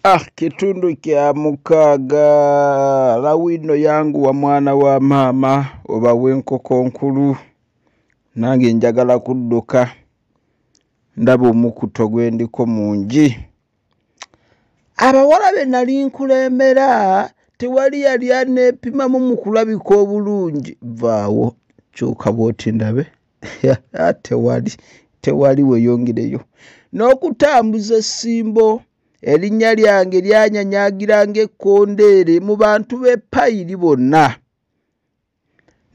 Ah, kitundu kya mukaaga lawino yangu wa mwana wa maama oba wenkoko nkulu nange njagala kudduka ndaba omukuto gwe ndiko mungi abawala be nali nkulembera tewali yali aneepimamu mu kulabika obulungi vaawo kyuka bwoti ndabe tewali tewali weyongereyo n'okutambuza essimbo erinnya lyange lyanyanyagira ng'ekkondeere mu bantu b'e payiri bonna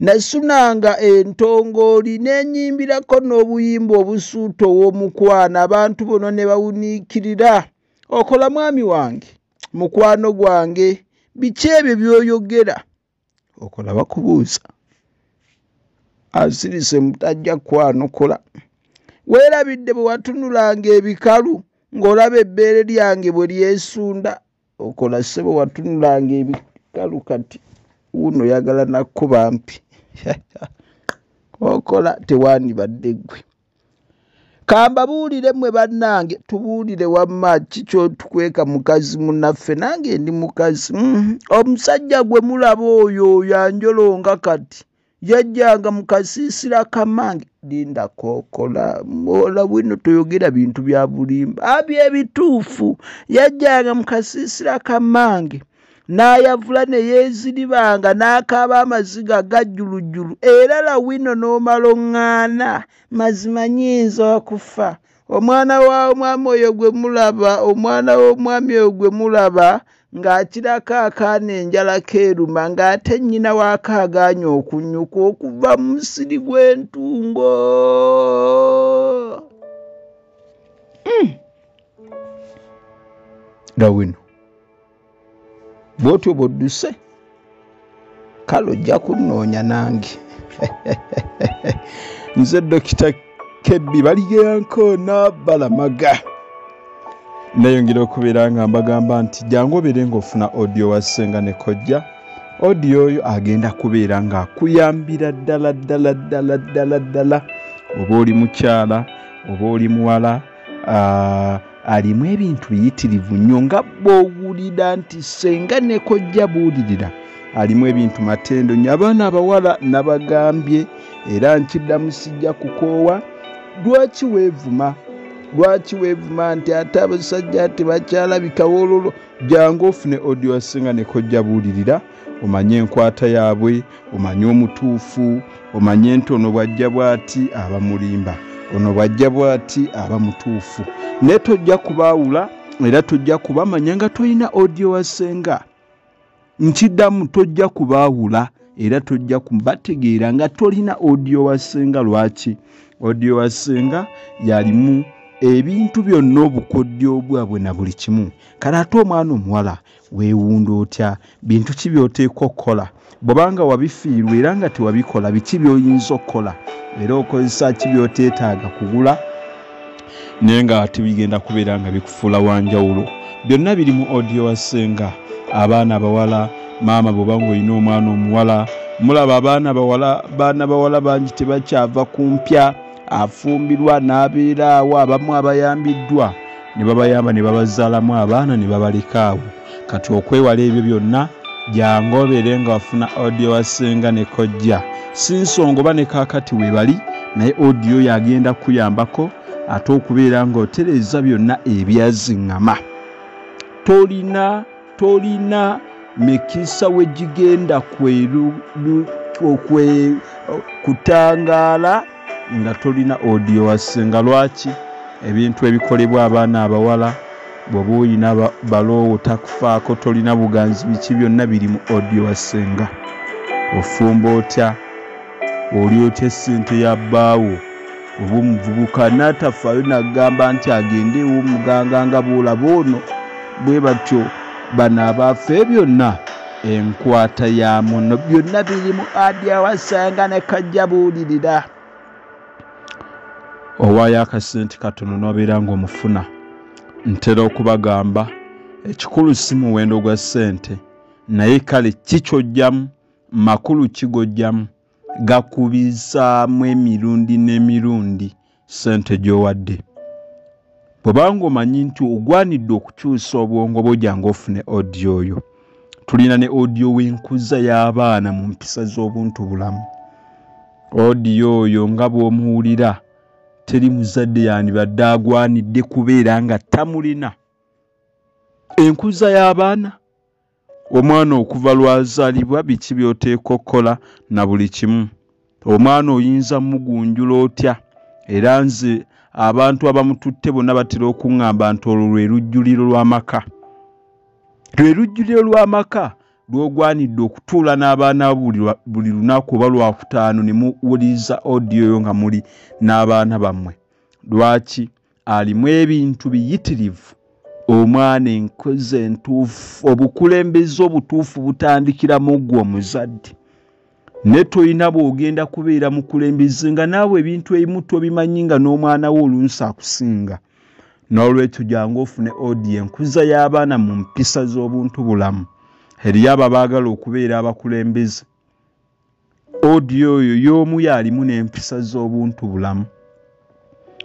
nasunanga entongooli n'enyimbirako n'obuyimba obusuuta ow'omukwano abantu bona ne bawuniikirira okola mwami wange mukwano gwange biki ebyo by'oyogera okola bakubuuza asirise mutajja kwanukula weerabidde bwe watunulanga ebikalu ng'olaba ebbeere lyange bwe lyesunda okola ssebo watunulanga ebikalu kati wuuno oyagala nakuba mpi okola tewandibadde ggwe kambabuulire mwe bannange tubuulire wamma kikyotukweka mukazi munaffe nange ndi mukazi mm, omusajja gwe mulaba oyo oyo anjolonga kati yajjanga mu kasiisira kamange linda kokola mwola bwino toyogera bintu bya bulimba abyo ebituufu yajjanga mu kasiisira kamange n'ayavula ne yeeziribanga n'akaaba amaziga gajjulujjulu era lawino n'omala oŋŋaana mazima nyinza okufa omwana wa omwami oyo gwe mulaba omwana w'omwami oyo gwe mulaba ng'akirako akaana enjala keeruma ng'ate nnyina waako agaanye okunnyuka okuva mu musiri gw'entungo hmm. lawino bwotyo bwodduse kale ojja kunnoonya nange nze dokita kebbi baligeyanko nabalamaga nayongera okubeera nga mbagamba nti jangu obeere ngaofuna odio wa ssenga ne kojja odio oyo agenda kubeera ngaakuyambira ddala ddala ddala ddala ddala oba oli mukyala oba oli muwala Ah, alimu ebintu biyitirivu nnyo nga bwowulira nti senga nekojja buulirira alimu ebintu matendo nyo abaana abawala nabagambye era nkiddamu sijja kukoowa lwaki weevuma lwaki weevuma nti ate abasajja tebakyalabika wololo jangu ofune odiosinga nekojja buulirira omanyi enkwata yaabwe omanyi omutuufu omanyi nti ono bwajja bwati aba mulimba ono bwajja bwati aba mutuufu naye tojja kubaawula era tojja kubamanya nga tolina odio wasenga nkiddamu tojja kubaawula era tojja kubategeera nga tolina odio wasenga lwaki odio wasenga yalimu ebintu byonna obukodyo bwabwe na buli kimu kale ate omwana omuwala Weewunda otya? Bintu ki by'oteekwa okukola? Bw'oba nga wabifiirwa era nga tewabikola, biki by'oyinza okukola? Era okozesa ki by'oteetaaga kugula naye nga ate bigenda kubeera nga bikufuula wa njawulo? Byonna biri mu odiyo wa ssenga. Abaana abawala, maama bw'oba ng'olina omwana omuwala, mulaba abaana bawala, baana bawala bangi tebakyava ku mpya. afumbirwa n'abeera awo abamu abayambiddwa ne babayamba ne babazaalamu abaana ne babaleka awo kati okwewala ebyo byonna jangu obeere nga wafuna odiyo wa ssenga ne kojja si nsonga oba ne kaakati weebali naye odiyo oyo agenda kukuyambako ate okubeera ng'otereeza byonna ebyaziŋŋama tolina tolina mikisa wegigenda kutangaala nga tolina odio wasse nga lwaki ebintu ebikolebwa abaana abawala bwoba oyina baloowo takufaako tolina buganzi biki byonna biri mu odio wassenga ofumba otya oli otya essente ya bbaawo oba omuvubuka n'atafaayo n'agamba nti agende ew'omuganga nga bw'olaba ono bwe batyo bano abaafe byonna enkwata ya muno byonna biri mu adi awasanga ne kajja buulirira owaayo akasente katono n'obeera ng'omufuna ntera okubagamba ekikulu si muwendo gwa ssente naye kale ki kyojjamu makulu kigojjamu gakubizaamu emirundi n'emirundi ssente gy'owadde bwebanga omanyi nti ogwanidde okukyusa obwongo bwoja nga ofune odi oyo tulina ne odiyo w'enkuza y'abaana mu mpisa z'obuntu bulamu odiyo oyo nga bw'omuwulira teri muzadde yandibadde agwanidde kubeera nga tamulina enkuza y'abaana omwana okuva lwazalibwa biki byoteeka okukola na buli kimu omwana oyinza mugunjula otya era nze abantu abamututte bonna batera okuŋŋamba nti olwo lwe lujjuliro lw'amaka lwe lujjuliro lw'amaka lwogwanidde okutuula n'abaana buli lunaku oba lwakutaano ne muwuliriza odiyo yo nga muli n'abaana bammwe lwaki alimu ebintu biyitirivu omwana enkozi entuufu obukulembeze obutuufu butandikira mu gwe omuzadde ne tolina bwogenda kubeera mukulembeze nga naawe ebintu ebimu tobimanyi nga n'omwana wo olunsi akusinga n'olwekyo jangu ofune odi enkuza y'abaana mu mpisa z'obuntu bulamu eriyo abo abaagala okubeera abakulembeze odiyo oyo y'omu y'alimu n'empisa z'obuntu bulamu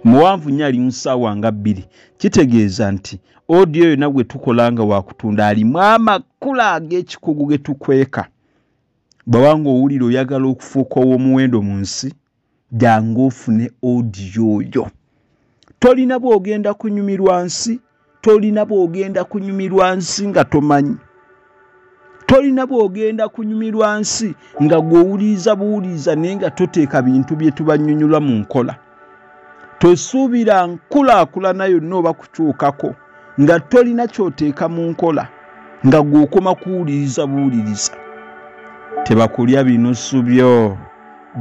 muwanvu nnyo ali mu ssaawa nga bbiri kitegeeza nti odiyo yonna gwe tukola nga wakutunda alimu amakula ag'ekikugu ge tukweka bwabanga owulira oyagala okufuuka ow'omuwendo mu nsi jangu ofune odiyo oyo tolina bwogenda kunyumirwa nsi tolina bwogenda kunyumirwa nsi nga tomanyi tolina bwogenda kunyumirwa nsi nga gwowuliiza buwuliiza naye nga toteeka bintu byetubanyonyola mu nkola tosuubira nkulaakulana yonna oba kukyukako nga tolina kyoteeka mu nkola nga gweokoma kuwuliriza buwuliriza tebakulya binusu byo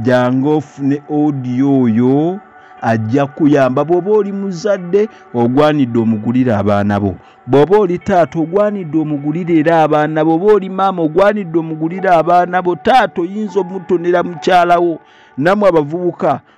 jangu ofune odiyo oyo ajja kuyamba bw'oba oli muzadde ogwanidde omugulire abaana bo bw'oba oli taata ogwanidde omugulire era abaana bo oba oli maama ogwanidde omugulire abaana bo taata oyinza omutonera mukyalawo namwe abavubuka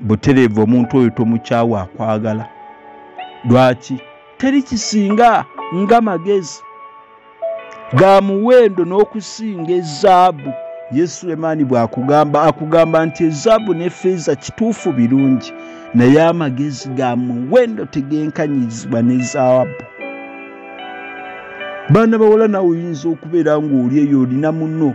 butereevu omuntu oyo tomukyawa akwagala lwaki teri kisinga nga magezi ga muwendo n'okusinga ezaabu ye sulemaani bwakugamba akugamba nti ezaabu ne feeza kituufu birungi naye amagezi ga muwendo tegenkanyizibwa ne zaabu baana bawala nawe oyinza okubeera ng'oli eyo olina muno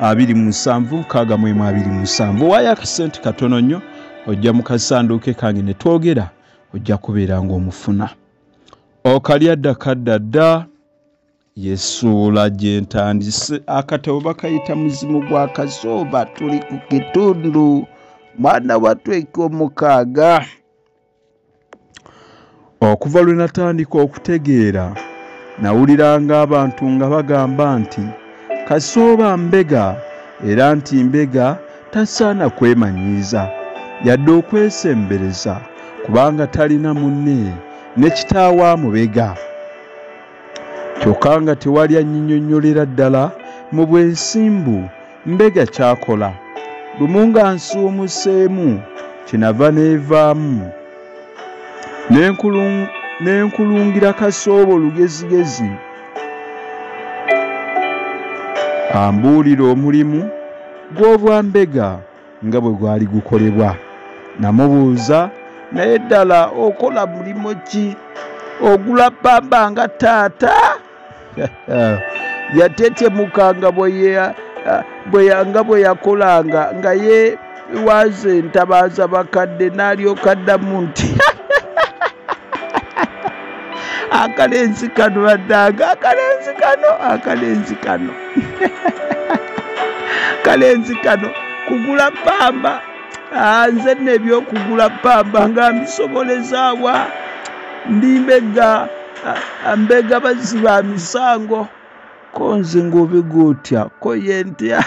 abiri mu musanvu nkaaga mu emu abiri mu musanvu waayo akasente katono nnyo ojja mu kasanduuke kange ne twogera ojja kubeera ng'omufuna okalya dda kadda dda yesuula gye ntandise akatabo bakayita muzimu gwa kazooba tuli ku kitundu mwana watweka omukaaga Okuva lwe natandika okutegeera nawuliranga abantu nga bagamba nti Kasooba mbega era nti mbega tasaana kwemanyiiza yadde okwesembereza kubanga talina munne ne kitaawe amubega kyokka nga tewali annyinyonnyolera ddala mu bwesimbu Mbega kyakola lumu nga nsuumuseemu kyenava neevaamu n'enkulungira kasoobo lugezigezi ambuulira omulimu gw'obwa mbega nga bwe gwali gukolebwa namubuuza naye ddala okola mulimu ki ogula bbamba nga taata yatetemuka nga bweyanga bwe yakolanga nga ye waze entabaaza bakadde n'alyoka ddamu nti akalenzi kano baddanga akalenzi kano akalenzi kano kalenzi kano kugula pamba ah, nze nebyokugula pamba nga mbisobolezaawa ndimbe ga ambega bazzi ba misango ko nze ng'obega otya ko ye ntya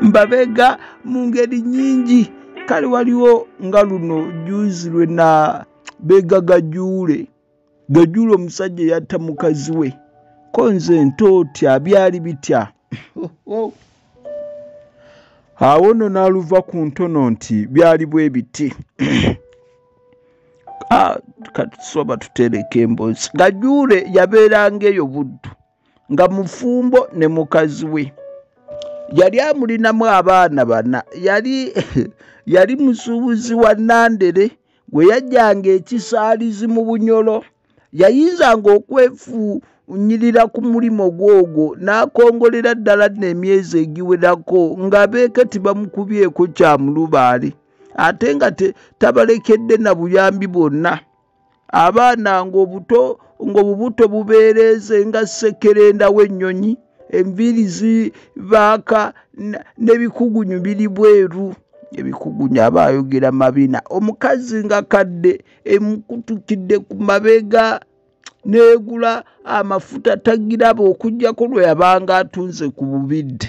mbabega mu ngeri nyingi kale waliwo nga luno juzi lwe na bega gajuule gajuule omusajja eyatta mukazi we ko nze nto otya byali bitya awo nno n'aluva ku ntono nti byali bwe biti ah, katusoba tutereka emboozi gajuule yabeeranga eyo buddu nga mufumbo ne mukazi we yali amulinamu abaana bana yali yali musuubuzi wa nandere gwe yajjanga ekisaalizi mu bunyolo yayinzanga okwefu nyirira ku mulimu gwogwo n'akongolera ddala nno emyezi egiwerako ng'abeeke tibamukubyeko kya mulubaale ate nga tabalekedde na buyambi bwonna abaana ngaobuto ngaobubuto bubeereeze nga ssekerenda w'ennyonyi enviiri zibaaka n'ebikugunyu biri bweru ebikugunyu aba ayogera mabina omukazi nga kadde emukutukidde ku mabega n'egula amafuta tagiraba okujjako lwe yabanga atunze ku bubidde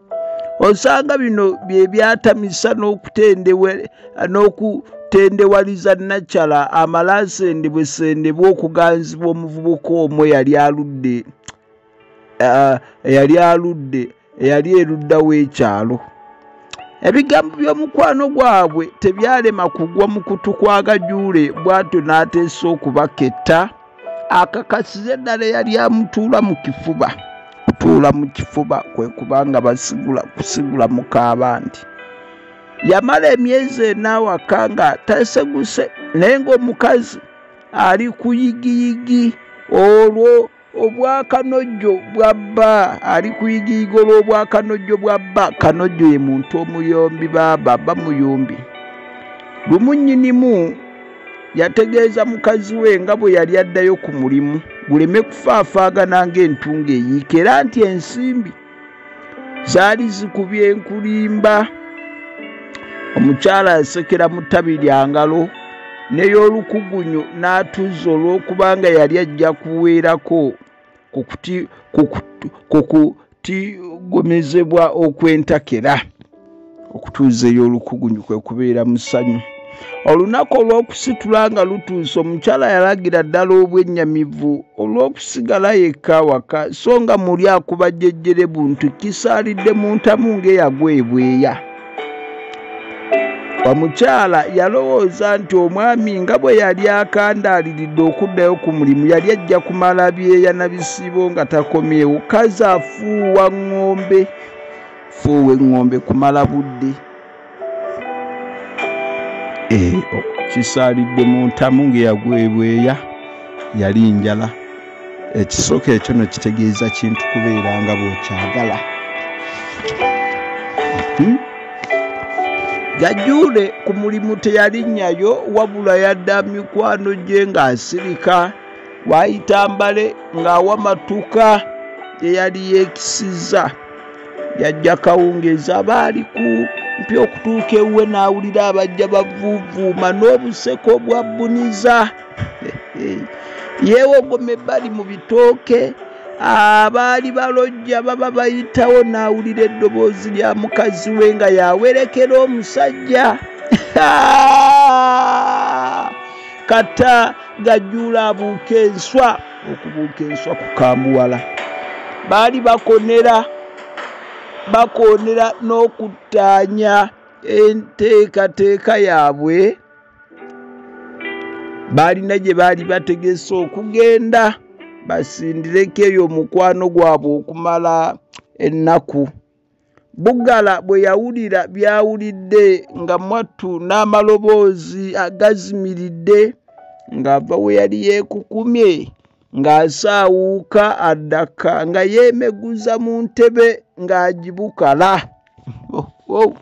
osanga bino bye byatamisa n'okutendewaliza nakyala amala asendebwesendebwa okuganzibwa omuvubuka omu eyali aludde eh, eyali aludde eyali erudda w'ekyalo ebigambo by'omukwano gwabwe tebyalema kugwa mu kutu kwa gajuule bw'atyo n'ateesa okubaketta akakasize ddala eyali amutuula mu kifuba kutuula mu kifuba kwe kubanga basigula kusigula mukaaba nti yamala emyezi enawaka nga taseguse naye ngaomukazi ali kuyigiyigi olwo obwakanojjo bwa bba ali kuyigiyiga olw'obwakanojjo bwa bba kanojjo ye muntu omuyombi baaba bamuyombi lumu nnyinimu yategeeza mukazi we nga bwe yali addayo ku mulimu guleme kufaafaagana ng'entunga eyiika era nti ensimbi zaali zikubye enkulimba omukyala yasekera mu ttabi lya ngalo ney'olukugunyu n'atuuza olw'okubanga yali ajja kuweerako ku kutigomezebwa okw'entakera okutuuza ey'olukugunyu kwe kubeera musanyu olunaku olw'okusitula nga lutuuse omukyala yalagira ddala obwennyamivu olw'okusigala yekka awaka so nga muli akubajjejjere buntu kisaalidde mu ntamu ng'eyagwa ebweya omukyala yalowooza nti omwami nga bwe yali akandaaliridde okuddayo ku mulimu yali ajja kumala byeya na bisiibo nga takomyewo kazi afuuwa ŋŋombe fuuwa eŋŋombe kumala budde eh, kisaalidde mu ntamu ng'eyagwebweya yali njala ekisooka ekyo no kitegeeza kintu kubeera nga bwekyagala hmm? gajuule ku mulimu teyalinnyayo wabula yadda mikwano gye ng'asirika waayita mbale ng'awa matuka gye yali yeekisizza yajja kawungeezi aba ali ku mpi okutuuka ewuwe n'awulira abajja bavuuvuuma n'obuseko bwa bbuniza yeewogoma ebbali mu bitooke abaali balojja baba bayitawo n'awulira eddoboozi lya mukazi we nga yawerekera omusajja kata gajjuula abuuka enswa okubuuka enswa ku kamuwala baali bakonera bakonera n'okuttaanya enteekateeka yaabwe baalina gye baali bategese okugenda basindireko eyo omukwano gwabwe okumala ennaku bugala bwe yawulira byawulidde nga mwattu n'amaloboozi agazimiridde ng'ava we yali yeekukumye ng'asaawuuka addaka nga yeemeguza mu ntebe ng'agibukala oh, oh.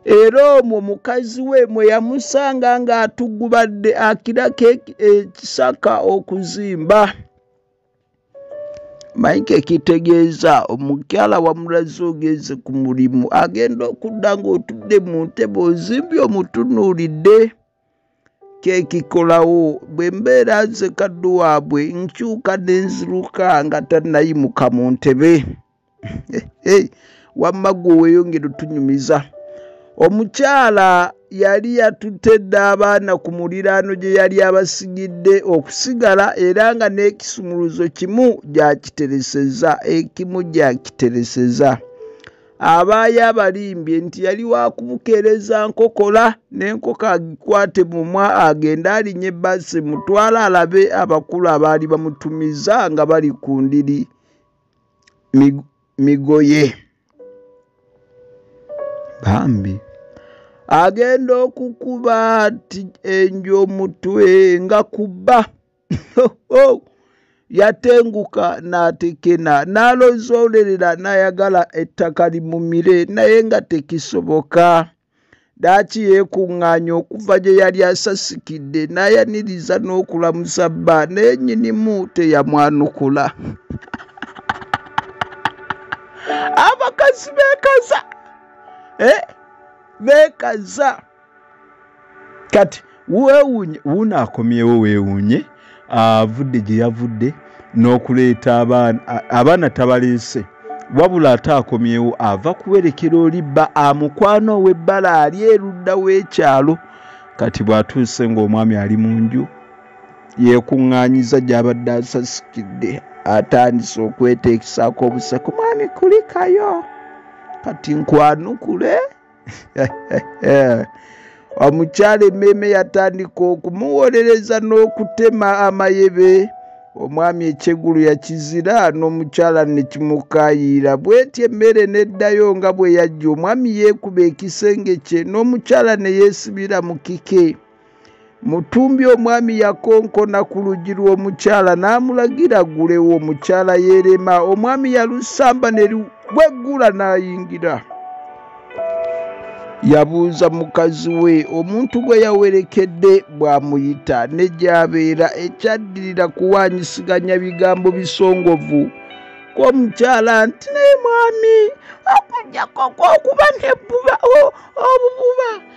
era omwo mukazi we mwe yamusanga ng'atugubadde akirako ekisaka okuzimba maike kitegeeza omukyala wamulaze ogenze ku mulimu agenda okudda ng'otudde mu ntebe ozimbye omutunuulidde kyekikolawo bwe mbeera nze kaddu waabwe nkyuka nenziruka nga tanayimuka mu ntebe wamma gwe weyongere otunyumiza omukyala yali yatutte dda abaana ku muliraano gye yali abasigidde okusigala era nga n'ekisumuluzo kimu gyakitereseza ekimu gyakitereseza abaayo abalimbye nti yali wakubukeereza nkokola n'enkoko agikwate mumwa agende alinye ebbasi mutwala alabe abakulu abaali bamutumiza nga bali ku ndiri migoye bambi agenda okukuba ti enju omutwe nga kubba yatenguka n'atekena n'alozoolerera n'ayagala ettaka limumire naye nga tekisoboka daaki yeekuŋŋaanya okuva gye yali asasikidde n'ayaniriza n'okulamusa bba naye nnyinimu teyamwanukula abakazi beekaza eh, beekaza kati wewunye wuuno akomyewo wewunye avudde gye yavudde n'okuleeta abaana abaana tabaleese wabula ate akomyewo ava kuwerekera oli bba amukwana ow'ebbala ali erudda w'ekyalo kati bw'atuuse ng'omwami ali mu nju yeekuŋŋaanyiza gy'abadde asasikidde atandise okweteekisaako obuseko mwami kulikayo kati nkwanukule omukyala emmeeme yatandika okumuwolereza n'okutema amayebe omwami ekyegulu yakizira n'omukyala ne kimukayiira bwetyo emmere n'eddayo nga bwe yajja omwami yeekuba ekisenge kye n'omukyala ne yeesibira mu kike Mutumbi omwami yakonkona ku luggi lw'omukyala n'amulagira ggulewo omukyala yeerema omwami yalusamba ne lugweggula n'ayingira. Yabuuza mukazi we omuntu gwe yawerekedde bw'amuyita ne gy'abeera ekyaddirira kuwaanyisiganya bigambo bisongovu kw'omukyala nti naye mwami okujjako okuba n'ebbuba obububa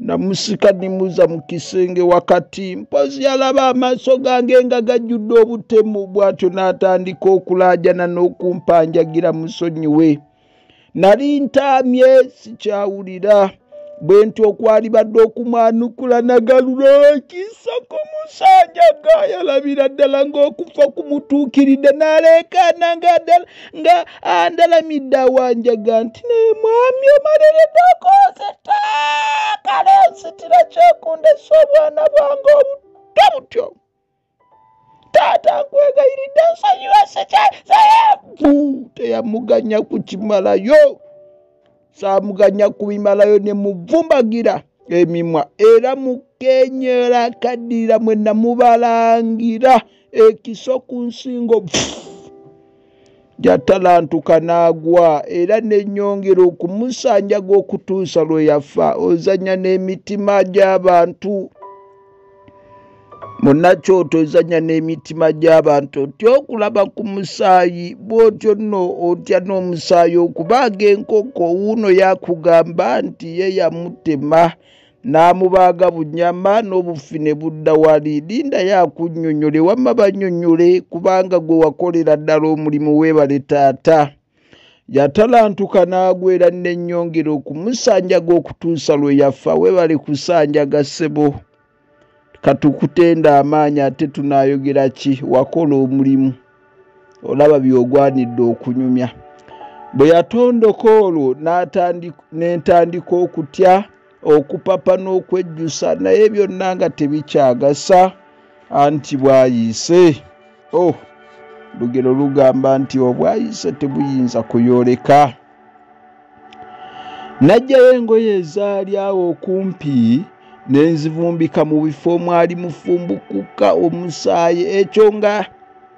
namusika nimuza mu kisenge wakati mpozi yalaba amaaso gange nga gajjudde obutemu bw'atyo n'atandika okulaajana n'okumpanjagira musonyiwe nali ntaamye sikyawulira bwe nti okwalibadde okumwanukula nagalula ekisa ku musanja ga yalabira ddala ng'okufa kumutuukiridde n'aleekaana nga ddala nga andalamidde awanjaga nti naye mwami omaleredako nzita kale nsitira kyekundesa obwana bwange obutto butyo taata nkwegayiridde nsonyiwa sekyasayavu teyamuganya kukimalayo saamuganya kubimalayo ne muvumbagira emimwa era mukenyera kaddirira mwe namubalangira ekiso ku nsingo jatalantuka n'agwa era nenyongera okumusanjaga okutuusa lwe yafa ozanya n'emitima gy'abantu munakyoto ozanya n'emitima gy'abantu otya okulaba ku musaayi bw'otyo nno otya n'omusaayi okubaaga enkoko wuuno yakugamba nti ye yamutema n'amubaaga bunyama n'obufi ne budda wali linda yakunnyonnyole wamma bannyonnyole kubanga gwe wakolera ddala omulimu weebale taata yatalantuka n'agwera n'ennyongera okumusanjaga okutuusa lwe yafa webale kusanjaga ssebo katukutenda amaanyi ate tunaayogera ki wakola omulimu olaba byogwanidde okunyumya bwe yatondoka olwo n'entandika okutya okupapa n'okwejjusa naye byonna nga tebikyagasa anti bwayise o oh, lugero lugamba nti obwayise tebuyinza kuyooleka najjayo engoye ezaali awo okumpi ne nzivumbika mu bifo omwali mufumbukuka omusaayi ekyo nga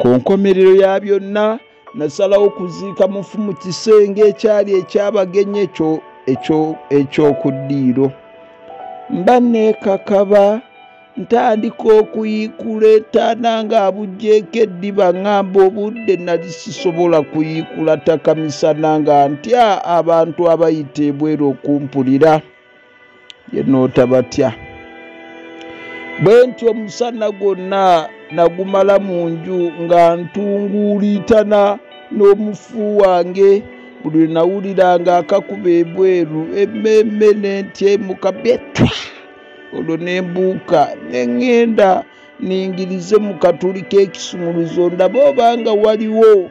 ku nkomerero ya byonna nasalawo okuziika mufu mu kisenge ekyali ekyabagenyi eky'okuddiiro mba neekakaba ntandika okuyiikula etaana ng'abuggyeko eddiba ŋŋamba obudde nali sisobola kuyiikula takamisana nga ntya abantu abayita ebweru okumpulira yenootabatya bwe nti omusana gwonna nagumala mu nju nga ntunguuliitana n'omufu wange buli lwe nawulira nga akakuba ebweru emmeemme ne ntyemuka byetwa olwo ne mbuuka ne ŋŋenda ningirize mu katuli k'ekisumuluzo ndaba oba nga waliwo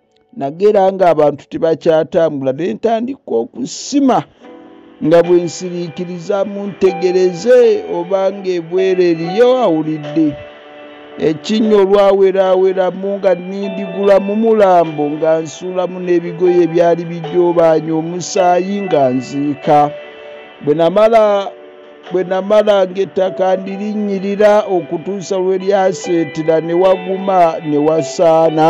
nagera nga abantu tebakyatambula ne ntandika okusima nga bwe nsiriikiriza muntegereze oba ng'ebwere eriyo awulidde ekinnya olwaweraaweramu nga nindigula mu mulambo nga nsuulamu n'ebigoye ebyali bijoobaanya omusaayi nga nziika bwe namala bwe namala ng'ettaka ndirinnyirira okutuusa lwe lyaseetera ne waguma ne wasaana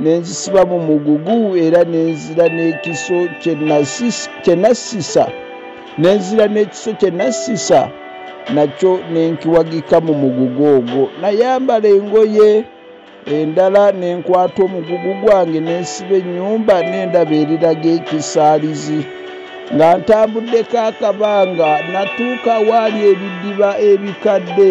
ne nzisiba mu mugugu era ne nzira n'ekiso kye nassisa ne nzira n'ekiso kye nassisa nakyo ne nkiwagika mu mugugu ogwo nayambala engoye endala ne nkwata omugugu gwange ne nsiba ennyumba n'endaba eriraga ekisaalizi nga ntambuddeko akabanga natuuka waali ebidiba ebikadde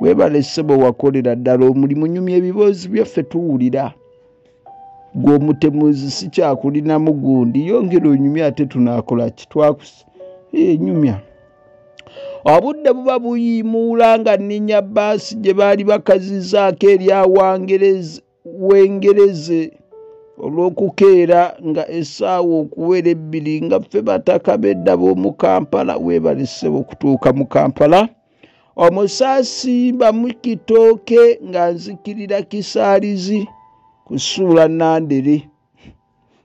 webale sebo wakolera ddala omulimu nyumya ebiboozi byaffe tuwulira gwe omutemuzi sikyakulinamu gundi yongera onyumya ate tunakola ki twakusa enyumya eh, obudde buba buyimuula nga nninya baasi gye baali bakazizaako erya wangereza wengereze olw'okukeera nga essaawa okuwera ebbiri nga ffe bataka bedda b'omu kampala webalise okutuuka mu kampala omusaasi bamukitooke nga nzikirira kisaalizi kusuula nandere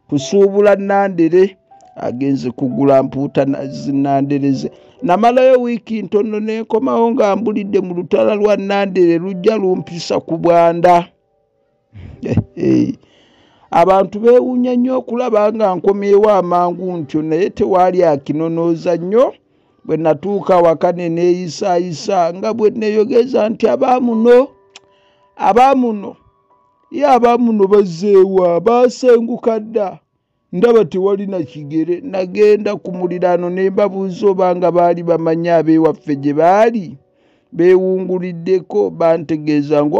kusuubula nandere agenze kugula mpuuta zinandereze namalayo wiiki ntono nenkomawo nga mbulidde mu lutala lwa nandere lujja lumpisa ku bwanda eh, eh. abantu bewunya nnyo okulaba nga nkomyewo amangu ntyo naye tewaali akinonooza nnyo bwe natuuka waka ne neeyisaayisa nga bwe neyogeza nti abaamuno abaamuno ye abamuno bazeewa baasenguka dda ndaba tewalina kigere nagenda ku muliraano ne mbabuuza oba nga baali bamanyi ab'ewaffe gye baali beewunguliddeko bantegeeza nga